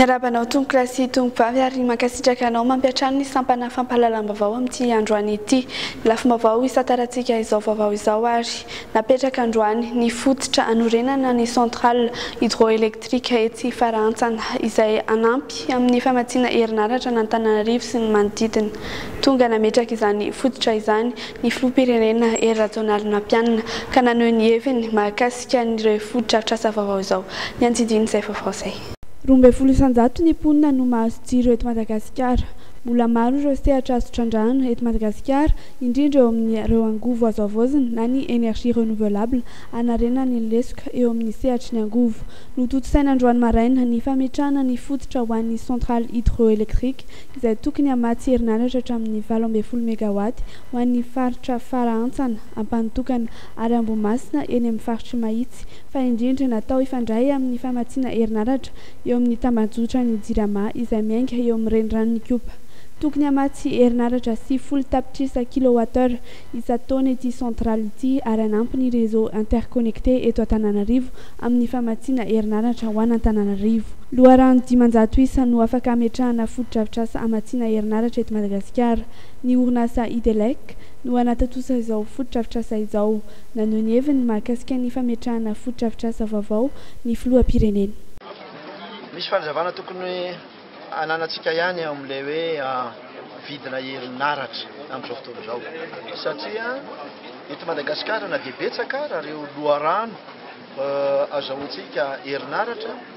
Miarahaba anao tompokolahy sy tompokovavy ary mankasitraka anao mampiantrano ny sampana fampahalalam-baovao amin'ity androany ity. Ny lafim-baovao hisantarantsika izao vaovao izao ary Napetraka androany ny fototra hanorenana ny centrale hydroélectrique etsy Farahantsana izay hanampy amin'ny famatsiana herinaratra an'Antananarivo sy ny manodidina. Tonga nametraka izany fototra izany ny filoham-pirenena Hery Rajaonarimampianina ka naneho ny heviny mahakasika an'ireo fotodrafitrasa vaovao izao. Ny andidin'izay vaovao izay. Roa ambin'ny folo isan-jato ny mponina no mahazo jiro eto Madagasikara. Mbola maro ireo sehatra azo trandrahana eto Madagasikara, indrindra eo amin'ireo angovo azo havaozina na ny énergie renouvelable hanarenana ny lesoka eo amin'ny sehatry ny angovo. Notontosaina androany maraina ny fametrahana ny fototra ho an'ny centrale hydroélectrique izay tokony hamatsy herinaratra hatramin'ny valo ambin'ny folo megawatt ho an'ny faritra Farahantsana, Ampanotokana ary Ambohimasina eny amin'ny faritr'i Mahitsy. fa indrindra natao hifandray amin'ny famatsiana herinaratra eo amin'ny tambanjotran'ny Jirama izay miainga eo amin'ny reniranon'Ikopa. Tokony hamatsy herinaratra sivifolo tapitrisa kilowattheure isan-taona ity centrale ity ary hanampy ny réseau interconnecté eto Antananarivo amin'ny famatsiana herinaratra ho an'Antananarivo. Loharano dimanjato isa no afaka hametrahana fotodrafitrasa hamatsiana herinaratra eto Madagasikara. Ny orinasa Idelec no hanatontosa izao fotodrafitrasa izao. naneho ny heviny mahakasika ny fametrahana fotodrafitrasa vaovao ny filoham-pirenena. Misy fanazavana tokony ananantsika ihany eo amin'ilay hoe vidina herinaratra amin'izao fotoana izao satria eto Madagasikara na dia betsaka ara ireo loharano azahoantsika herinaratra,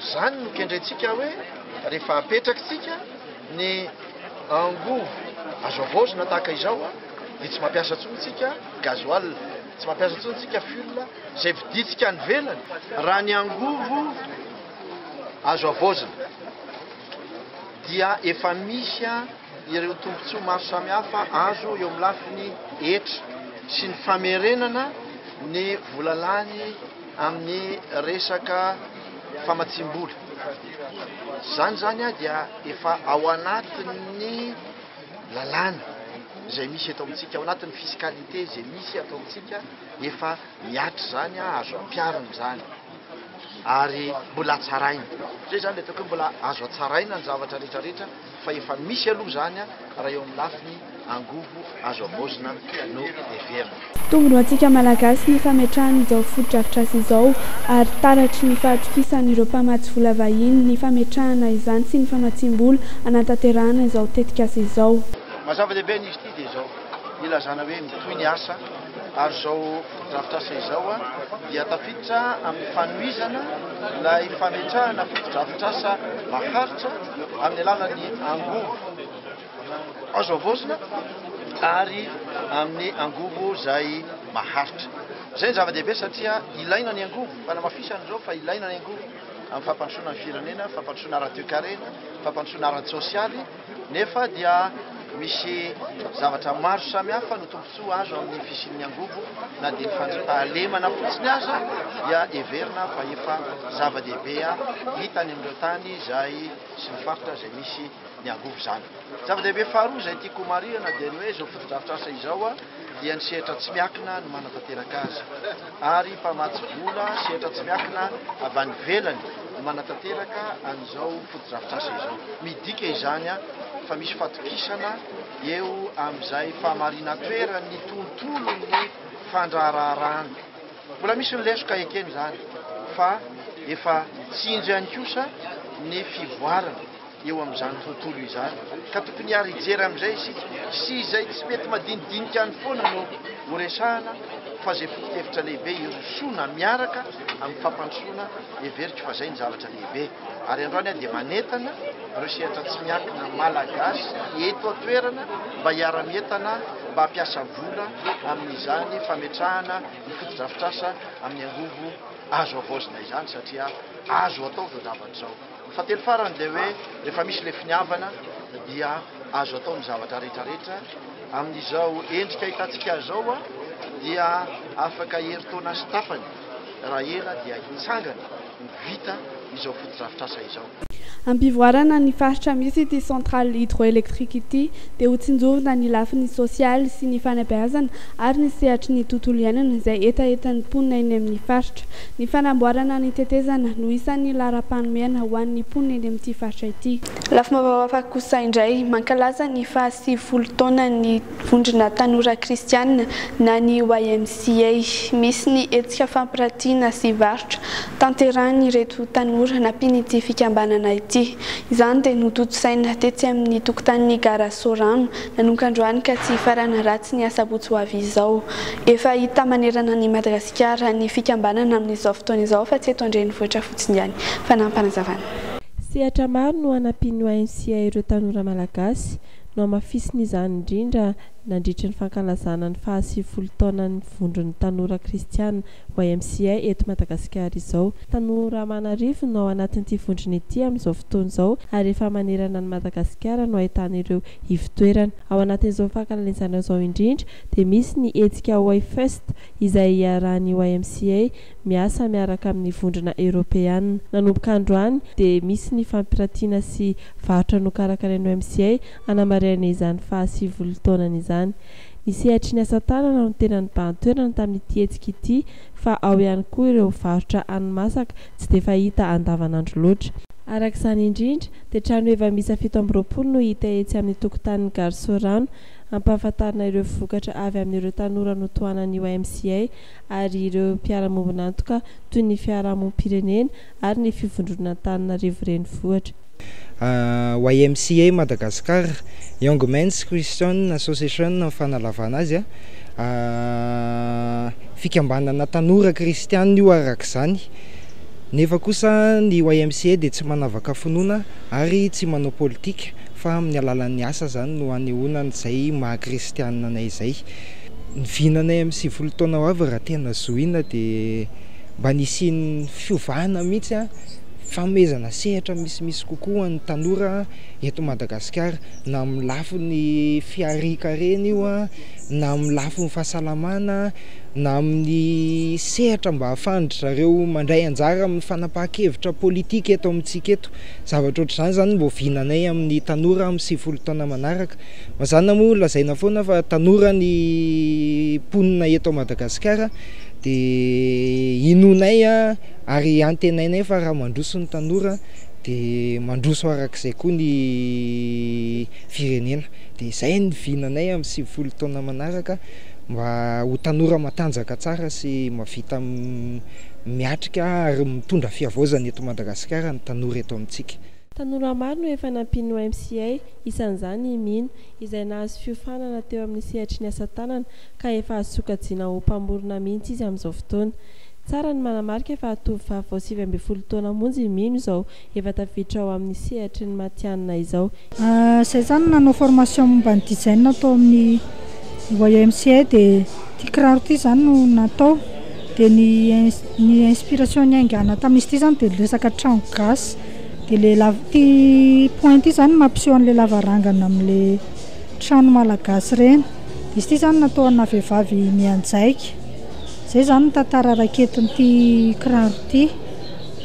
Izany no kendrentsika hoe rehefa apetrakitsika ny angovo azo avaozina tahaka izao dia tsy mampiasa intsony tsika gasoil, tsy mampiasa intsony tsika fuel izay vidintsika any ivelany raha ny angovo azo avaozina dia efa misy ireo tombontsoa maro samihafa azo eo amin'ny lafiny hetra sy ny famerenana ny vola lany amin'ny resaka famatsiam-bola. Izany izany dia efa ao anatin'ny lalàna izay misy eto amintsika, ao anatin'ny fiscalité izay misy eto amintsika, efa mihatra izany, azo ampiharina izany ary mbola hatsaraina. Izay izany ilay ataoko hoe mbola azo hatsaraina ny zavatra rehetrarehetra. fa efa misy aloha izany raha eo amin'ny lafiny angovo azo havaozina no heverina. Mitombo ho antsika Malagasy ny fametrahana izao fotodrafitrasa izao ary taratry ny fahatokisan'ireo mpamatsy vola vahiny ny fametrahana izany sy ny famatsiam-bola hanatanterahana izao tetikasa izao. Maha zava-dehibe an'izy ity dia izao ilazana hoe mitohy ny asa. ary izao fotodrafitrasa izao dia tafiditra amin'ny fanohizana ilay fametrahana fotodrafitrasa maharitra amin'ny alalan'ny angovo azo havaozina ary amin'ny angovo izay maharitra. Izay ny zava-dehibe satria ilaina ny angovo, fanamafisana izao fa ilaina ny angovo amin'ny fampandrosoana ny firenena, fampandrosoana ara-toekarena, fampandrosoana ara-tsosialy. Nefa dia misy zavatra maro samihafa no tombontsoa azo amin'ny fisian'ny angovo na dia ny fandrapahalemana fotsiny aza dia heverina fa efa zava-dehibe hita any amin'ireo tany izay sy ny faritra izay misy ny angovo izany. Zava-dehibe faharoa izay tiako homarihana dia ny hoe izao fotodrafitrasa izao dia ny sehatra tsy miakina no manatanteraka azy ary mpamatsy vola sehatra tsy miakina avy any ivelany no manatanteraka an'izao fotodrafitrasa izao. Midika izany fa misy fatokisana eo amin'izay fahamarinan-toeran'ny tontolon'ny fandraharaharahana. Mbola misy ny lesoka ekena izany fa efa tsinjo ihany kosa ny fivoarana. eo amin'izany tontolo izany ka tokony hiara hijery amin'izay isika sy izay tsy mety madinidinika any foana no horesahana fa izay foto-kevitra lehibe hirosoana miaraka amin'ny fampandrosoana heveriko fa izay ny zavatra lehibe ary androany aho dia manentana ireo sehatra tsy miankina malagasy eto an-toerana mba hiara-mientana mba hampiasa vola amin'izany fametrahana ny fotodrafitrasa amin'ny angovo azo avaozina izany satria azo atao izao zavatra izao Fahatelo farany dia hoe rehefa misy ilay finiavana dia azo atao ny zavatra rehetrarehetra. Amin'izao endrika ahitantsika azy izao dia afaka herintaona sy tapany raha ela dia hitsangana ho vita izao fotodrafitrasa izao. Hampivoarana ny faritra misy ity centrale hydroélectrique ity dia hotsinjovina ny lafiny sosialy sy ny fanabeazana ary ny sehatry ny tontolo iainana izay hetahetan'ny mponina eny amin'ny faritra. Ny fanamboarana ny tetezana no isan'ny laharam-panomehana ho an'ny mponina eny amin'ity faritra ity. Lafim-baovao hafa kosa indray, mankalaza ny faha sivifolo taonan'ny vondrona tanora kristianina na ny YMCA. Misy ny hetsika fampiratiana sy varotra tanterahin'ireto tanora nampian'ity fikambanana ity. Izany dia notontosaina tetsy amin'ny tokotanin'ny gara Sorano nanomboka androany ka tsy hifarana raha tsy ny asabotsy ho avy izao. Efa hita manerana an'i Madagasikara. Gara ny fikambanana amin'izao fotoana izao fa tsy eto an-drenivohitra fotsiny ihany. Fanampinazavana. Sehatra maro no hanampian'ny YMCA ireo tanora malagasy. Nohamafisiny izany indrindra nandritry ny fankalazana ny fahasivifolo taonan'ny Vondron'ny Tanora Kristiana, YMCA, eto Madagasikara izao. Tanora aman'arivony no ao anatin'ity vondrona ity amin'izao fotoana izao ary efa manerana an'i Madagasikara no ahitana ireo ivo-toerana. Ao anatin'izao fankalalizana izao indrindra dia misy ny hetsika Wayfest, izay iarahan'ny YMCA miasa miaraka amin'ny Vondrona Eoropeana. Nanomboka androany dia misy ny fampirantiana sy varotra nokarakarain'ny YMCA hanamarihana izany fahasivily taonany izany. Ny sehatry ny asa tanana no tena nibahan-toerana tamin'ity hetsika ity fa ao ihany koa ireo varotra hani-masaka tsy dia fahita andavanandro loatra. Araka izany indrindra dia trano heva miisa fito amby roapolo no hita etsy amin'ny tokotanin'ny Gare Soarano Ampahafantarina ireo vokatra avy amin'ireo tanora notohanan'io MCA ary ireo mpiara-mombon'antoka toy ny fiarahamonim-pirenena ary ny fivondronan'Antananarivo Renivohitra. YMCA Madagascar, Young Men's Christian Association ny fanalavana azy. Fikambanana tanora kristianina io araka izany, nefa kosa ny YMCA dia tsy manavaka finoana ary tsy manao politika. fa amin'ny alalan'ny asa izany no hanehoana an'izay maha kristianina anay izay. Ny vinanay amin'ny sivifolo taona ho avy raha tena zohiana dia mba ny hisian'ny fiovana mihitsy, fanomezana sehatra misimisy kokoa ho an'ny tanora eto Madagasikara, na amin'ny lafiny fiharian-karena io, na amin'ny lafiny fahasalamana, na amin'ny sehatra mba ahafahan-dry zareo mandray anjara amin'ny fanapahan-kevitra politika eto amintsika eto. Ivato. Zavatra ohatr'izany izany no oviananay amin'ny tanora amin'ny sivifolo taona manaraka. Mazàna moa lazaina foana fa tanora ny mponina eto Madagasikara dia inoanay ary antenainay fa raha mandroso ny tanora dia mandroso araka izay koa ny firenena. Dia izay no vinanay amin'ny sivifolo taona manaraka mba ho tanora matanjaka tsara sy mahavita miatrika ary mitondra fihavaozana eto Madagasikara ny tanora eto amintsika. Tanora maro no efa nampian'ny YMCA, isan'izany i Mino, izay nahazo fiofanana teo amin'ny sehatry ny asa tanana ka efa azo sokajiana ho mpamorona mihitsy izy amin'izao fotoana. Tsara ny manamarika fa tovovavy vao sivy ambin'ny folo taona monja i Mino izao Efa tafiditra ao amin'ny sehatry ny matihanina izao. Izay izany nanao formation momba ny design tao amin'ny YMCA dia ity kiraro ity izany no natao dia ny ny inspiration niaingàna tamin'izy ity izany dia ny resaka trano gasy dia ilay la- ity point ity izany no mampiseho an'ilay lavarangana amin'ilay trano malagasy ireny dia izy ity izany natao anà vehivavy mianjaika. Izay izany no tantara raketin'ity kiraro ity.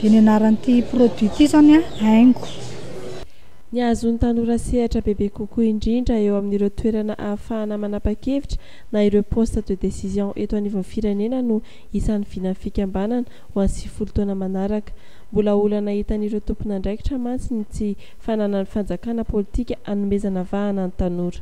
Dia ny anaran'ity produit ity izany an, haingo. Ny hahazoan'ny tanora sehatra bebe kokoa indrindra eo amin'ireo toerana ahafahana manapa-kevitra na ireo poste de décision eto anivon'ny firenena no isan'ny vinan'ny fikambanana ho an'ny sivifolo taona manaraka. Mbola olana hitan'ireo tompon'andraikitra mantsy ny tsy fananan'ny fanjakana politika hanomezana vahana ny tanora.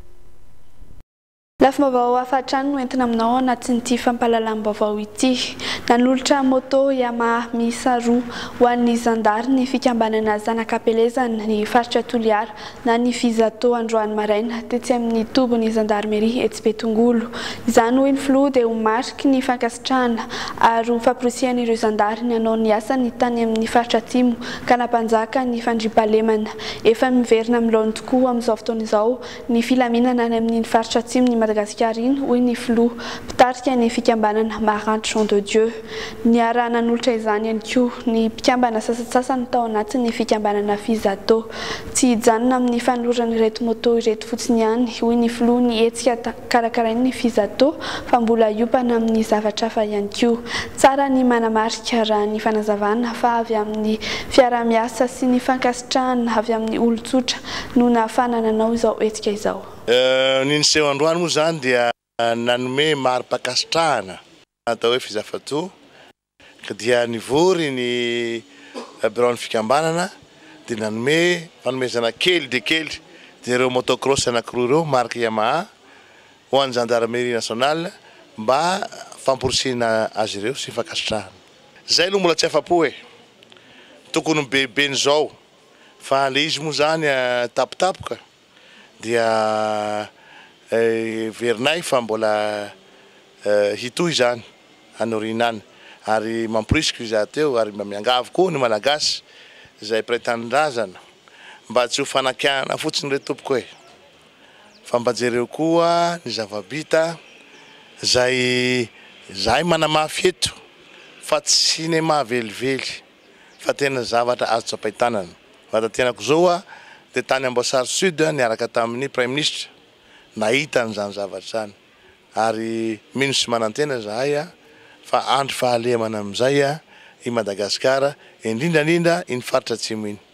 Lafim-baovao hafa hatrany no entina aminao ao anatin'ity fampahalalam-baovao ity. Nanolotra moto Yamaha miisa roa ho an'ny zandary ny fikambanana Zanak'Ampelezana ny faritra Toliara na ny Fizato androany maraina tetsy amin'ny tobin'ny zandarimeri etsy Betongolo. Izany hoy ny filoha dia ho mariky ny fankasitrahana ary ho famporisihan'ireo zandary ny hanao ny asany tany amin'ny faritra Atsimo ka nampanjaka ny fandriampahalemana efa miverina amin'ny laoniny tokoa amin'izao fotoana izao ny filaminana any amin'iny faritra atsimon'i Madagasikara iny, hoy ny filoha mpitarika ny fikambanana Maranty Jean de Dieu. Niaraha-nanolotra izany ihany koa ny mpikambana sasantsasany tao anatin'ny fikambanana Fizato. Tsy hijanona amin'ny fanoloran'ireto moto ireto fotsiny ihany, hoy ny filoha ny hetsika karakarain'ny Fizato fa mbola hiompana amin'ny zavatra hafa ihany koa. Tsara ny manamarika, raha ny fanazavana, fa avy amin'ny fiaraha-miasa sy ny fankasitrahana avy amin'ny olon-tsotra, no nahafahana nanao izao hetsika izao. Ny niseho androany moa izany dia nanome mari-pankasitrahana atao hoe Fizafato ka dia nivory ny biraon'ny fikambanana dia nanome fanomezana kely dia kely dia ireo motocross anankiroa ireo marque Yamaha ho an'ny Gendarmerie Nationale mba famporisihina azy ireo sy fankasitrahana. Izay no mbola tsy afa-po e! Tokony ho behibe ny izao. Fa le izy moa zany tapotapoka dia heverinay fa mbola hitohy zany any aoriana any ary mamporisiko izaho teo ary mba miangavy koa ny Malagasy izay mpiray tanindrazana mba tsy ho fanakianana fotsiny re tompoko e! fa mba jereo koa ny zava-bita zay zahay manamafy eto fa tsy cinéma velively. fa tena zavatra azo tsapain-tanana. Vatatenako izao hoa dia tany Amboasary Sud niaraka tamin'ny Praiminisitra nahita an'izany zavatra izany ary mino sy manantena izahay fa handry fahalemana amin'izay i Madagasikara, indrindra indrindra iny faritra Atsimo iny.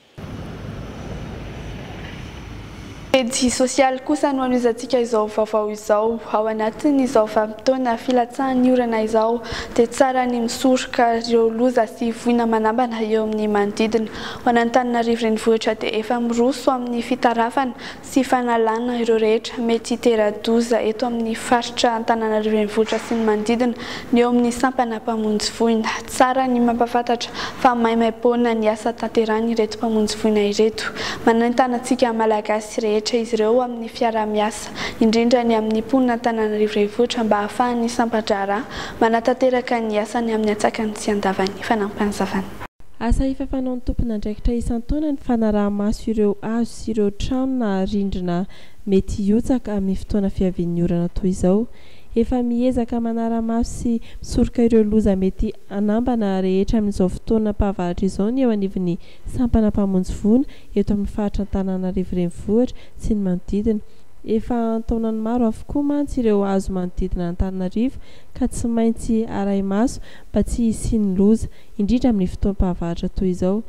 Pejy sosialy kosa no anohizantsika izao vaovao izao. Ao anatin'izao vanim-potoana filatsahan'ny orana izao dia tsara ny misoroka ireo loza sy voina manambana eo amin'ny manodidina. Ho an'Antananarivo Renivohitra dia efa miroso amin'ny fitarafana sy fanalana ireo rehetra mety hitera-doza eto amin'ny faritra Antananarivo Renivohitra sy ny manodidina ny eo amin'ny sampana mpamonjy voina. Tsara ny mampahafantatra fa maimaimpoana ny asa tanterahin'ireto mpamonjy voina ireto. Manentana antsika Malagasy rehetra izy ireo amin'ny fiaraha-miasa, indrindra ny amin'ny mponina Antananarivo Renivohitra mba hahafahan'ny sampan-draharaha manatanteraka ny asany amin'ny antsakany sy andavany. Fanampin'izany. Asa efa fanaon'ny tompon'andraikitra isan-taona ny fanaraha-maso ireo hazo sy ireo trano na rindrina mety hihotsaka amin'ny fotoana fiavian'ny orana toy izao. Efa miezaka manara-maso sy misoroka ireo loza mety hanambana rehetra amin'izao fotoanam-pahavaratra izao ny eo anivon'ny sampana mpamonjy voina eto amin'ny faritra Antananarivo Renivohitra sy ny manodidina. Efa an-taonany maro avokoa mantsy ireo hazo manodidina Antananarivo ka tsy maintsy arahi-maso mba tsy hisian'ny loza. indrindra amin'ny fotoam-pahavaratra toy izao.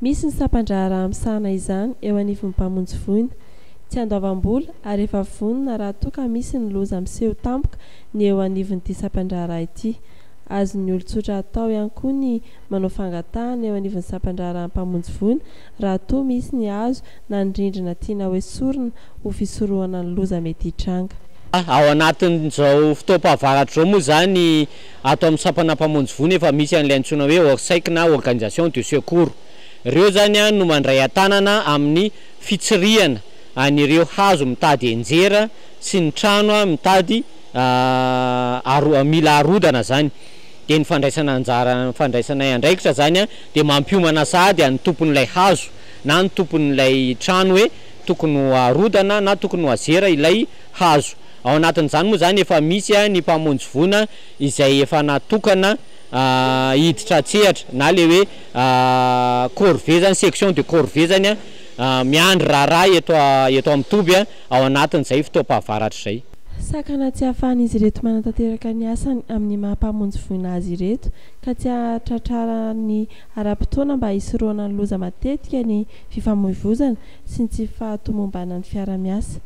Misy ny sampan-draharaha misahana izany eo anivon'ny mpamonjy voina. Tsy andoavam-bola ary efa vonona raha toa ka misy ny loza miseho tampoka ny eo anivon'ity sampan-draharaha ity. Azon'ny olon-tsotra atao ihany koa ny manao fangatahana eo anivon'ny sampan-draharahan'ny mpamonjy voina raha toa misy ny hazo na ny rindrina tiana hoesorina ho fisorohana ny loza mety hitranga. Ao anatin'izao fotoam-pahavaratra izao moa izany, Ato amin'ny sampana mpamonjy voa nefa misy an'ilay antsoina hoe Orsec na Organisation de secours. Ireo izany no mandray an-tanana amin'ny fitsirihana an'ireo hazo mitady enjera sy ny trano mitady mila arodana izany. Dia ny fandraisana anjara ny fandraisanay andraikitra izany dia mampiomana sahady an'ny tompon'ilay hazo na ny tompon'ilay trano hoe tokony ho arodana na tokony ho azera ilay hazo. Ao anatin'izany moa izany efa misy ny mpamonjy voina izay efa natokana hiditra an-tsehatra na ilay hoe corvée izany, section de corvée izany miandry raharaha eto eto amin'ny toby ao anatin'izay fotoam-pahavaratra izay. Sakana tsy ahafahan'izy ireto manatanteraka ny asany amin'ny maha mpamonjy voina azy ireto ka tsy hahatratrarany ara-potoana mba hisorohana ny loza matetika ny fifamoivoizana sy ny tsy fahatomombanan'ny fiara-miasa.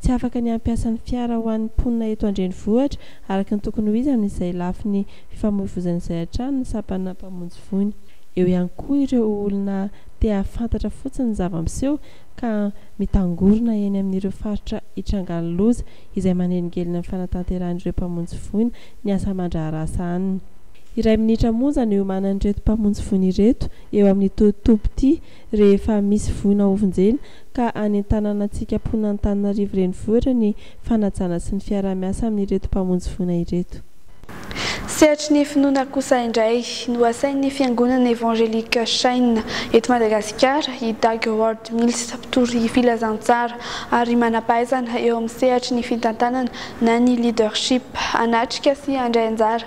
Tsy afaka ny hampiasa ny fiara ho an'ny mponina eto an-drenivohitra araka ny tokony ho izy amin'izay lafiny fifamoivoizana izay hatrany ny sampanà mpamonjy voina. Eo ihany koa ireo olona te hahafantatra fotsiny ny zava-miseho ka mitangorona eny amin'ireo faritra itrangan'ny loza izay manelingelina ny fanatanterahan'ireo mpamonjy voina ny asa aman-draharaha sahaniny. Iray minitra monja no iomanan'ireto mpamonjy voina ireto eo amin'ity toby ity. rehefa misy voina hovonjena ka hanentanana antsika mponina Antananarivo renivohitra ny fanajana sy ny fiaraha-miasa amin'ireto mpamonjy voina ireto. Sehatry ny finoana kosa indray no asain'ny Fiangonana Evangelique Shine eto Madagasikara i Doug Ward Mills, mpitory filazantsara ary manam-pahaizana eo amin'ny sehatry ny fitantanana na ny leadership, hanatrika sy handray anjara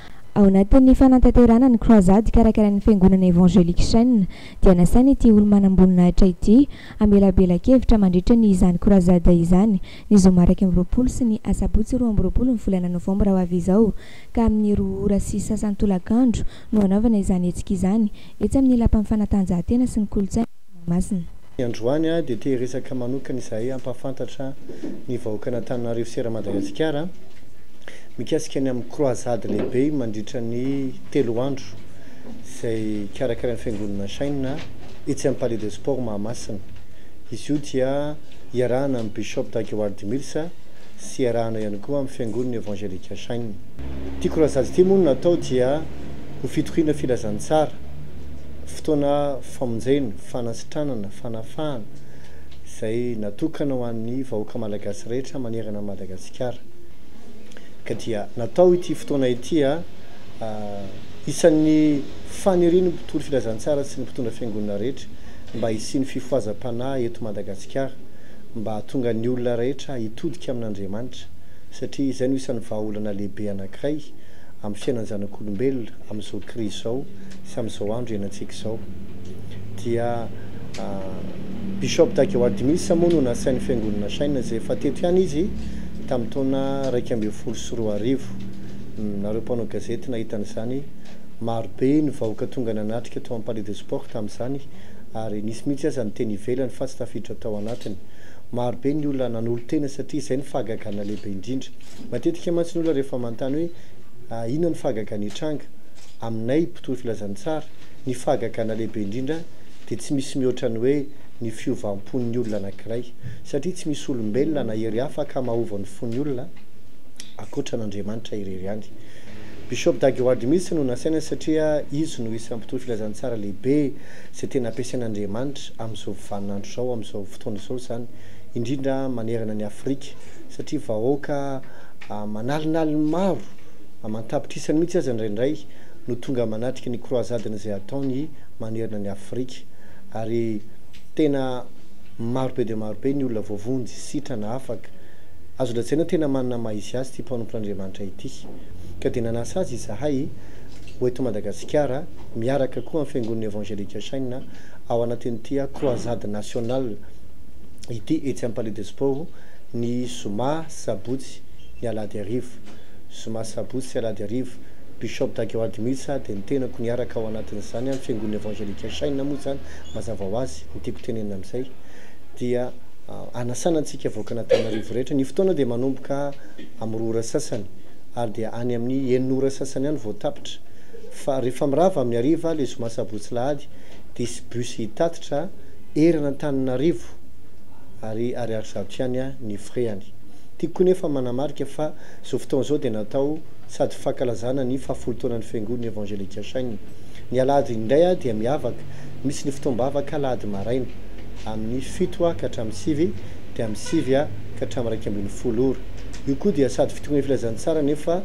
Ao anatin'ny fanantanterahana ny Croisade karakarain'ny Fiangonana Evangelique Chen dia nasaina ity olo-manamboninahitra ity hamelabela-kevitra mandritra ny izany Croisade izany ny zoma iraika amby roapolo sy ny asabotsy roa amby roapolo ny volana novambra ho avy izao ka amin'ny roa ora sy sasany tolakandro no hanaovana izany hetsika izany etsy amin'ny lapan'ny fanatanjahantena sy ny kolontsaina Mahamasina. Ny androany dia te hiresaka manokana izahay hampahafantatra ny vahoakan'Antananarivo sy eran'Madagasikara mikasika ny amin'ny croisade lehibe mandritra ny telo andro izay karakarain'ny Fiangonana Shine etsy amin'ny Palais de Sport Mahamasina. Izy io dia iarahana amin'ny Bishop Dag Heward Mills sy iarahana ihany koa amin'ny Fiangonana Evangelika Shine. Ity croisade ity moa no natao dia ho fitoriana filazantsara fotoana famonjena, fanasitranana, fanafahana izay natokana ho an'ny vahoaka malagasy rehetra manerana an'i Madagasikara. Ka dia natao ity fotoana ity a isan'ny fanirian'ny mpitory filazantsara sy ny mpitondra fiangonana rehetra mba hisian'ny fifohazam-panahy eto Madagasikara mba hahatonga ny olona rehetra hitodika amin'Andriamanitra satria izay no isan'ny vahaolana lehibe anankiray amin'ny fiainan'ny zanak'olombelona amin'izao krizy izao sy amin'izao andro ianantsika izao dia Bishop Dageo Admisa moa no nasain'ny Fiangonana Shine izay efa teto ihany izy tamin'ny taona iraika ambin'ny folo sy roa arivo. Nareo mpanao gazety nahita an'izany, marobe ny vahoaka tonga nanatrika tao amin'ny Palais de Sport tamin'izany ary nisy mihitsy aza ny teny ivelany fa tsy tafiditra tao anatiny. Marobe ny olona nanolo-tena satria izay ny fahagagana lehibe indrindra. Matetika mantsy ny olona rehefa manontany hoe inona ny fahagagana hitranga? Aminay mpitory filazantsara, ny fahagagana lehibe indrindra dia tsy misy mihoatra ny hoe ny fiovam-pon'ny olona anankiray, satria tsy misy olombelona na hery hafa akamahaova ny fon'ny olona ankoatra an'Andriamanitra irery ihany. Bishop Dag Heward mihitsy no nasaina satria izy no isan'ny mpitory filazantsara lehibe izay tena ampiasain'Andriamanitra amin'izao vanin'andro izao, amin'izao fotoana izao izany, indrindra manerana an'i Afrika satria vahoaka manalinaliny maro, aman-tapitrisany mihitsy aza indraindray no tonga manatrika ny croisades izay ataony manerana an'i Afrika, ary tena maro be dia maro be ny olona voavonjy, sitrana, afaka. Azo lazaina hoe tena manana ny maha izy azy ity mpanompon'Andriamanitra ity. Ka dia nanasa azy izahay ho eto Madagasikara, miaraka koa amin'ny Fiangonana Evangelique Shine, ao anatin'ity croisade nationale ity, etsy amin'ny Palais des Sports, ny zoma, sabotsy, ny alahady hariva. zoma sabotsy alahady arivo, Bishop Dageo Admitsa dia ny tenako niaraka ao anatin'izany amin'ny fiangonana evangelika Shine moa izany mazava ho azy ny tiako tenenina amin'izay dia anasana antsika vahoakan'Antananarivo rehetra ny fotoana dia manomboka amin'ny roa ora sasany ary dia any amin'ny enina ora sasany any vao tapitra fa rehefa mirava amin'ny hariva ilay zoma sabotsy lahady dia hisy bus hitatitra eran'Antananarivo ary ariary zato ihany ny frais any Tiako koa nefa manamarika fa izao fotoana izao dia natao sady fankalazana ny fahafolo taonan'ny Fiangonana Evangelika Shang. Ny alahady indray dia miavaka, misy ny fotoam-bavaka alahady maraina, amin'ny fito ha ka hatramin'ny sivy, dia amin'ny sivy ha ka hatramin'ny iraika ambin'ny folo ora. Io koa dia sady fitokonan'ny filazantsara nefa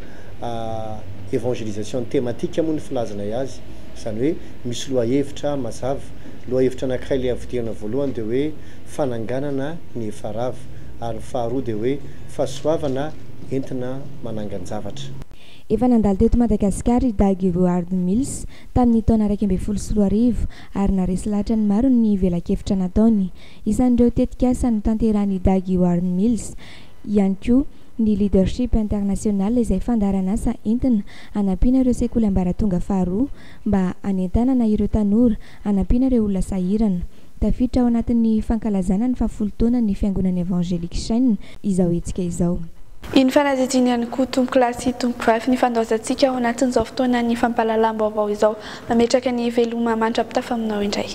evangelisation thématique moa ny filazanay azy, izany hoe misy lohahevitra mazava. Lohahevitra anankiray leha vidianana voalohany dia hoe fananganana ny efa rava. ary ny faharoa dia hoe fahasoavana entina manangan-javatra. Efa nandalo teto Madagasikara i Dag Heward Mills tamin'ny taona iraika ambin'ny folo sy roa arivo ary naharesy lahatra ny maro ny velakevitra nataony. Isan'ireo tetikasa notanterahin'i Dag Heward Mills ihany koa ny Leadership International izay fandaharan'asa entina hanampiana ireo sekoly ambaratonga faharoa mba hanentanana ireo tanora hanampiana ireo olona sahirana. Tafiditra ao anatin'ny fankalazana ny fahafolo taonan'ny Fiangonan'ny Evangelique Chaîne izao hetsika izao. Iny fanadihadiana ihany koa tompokolahy sy tompokovavy nifandaozantsika ao anatin'izao fotoanan'ny fampahalalam-baovao izao. Mametraka ny veloma mandra-pitafa aminao indray.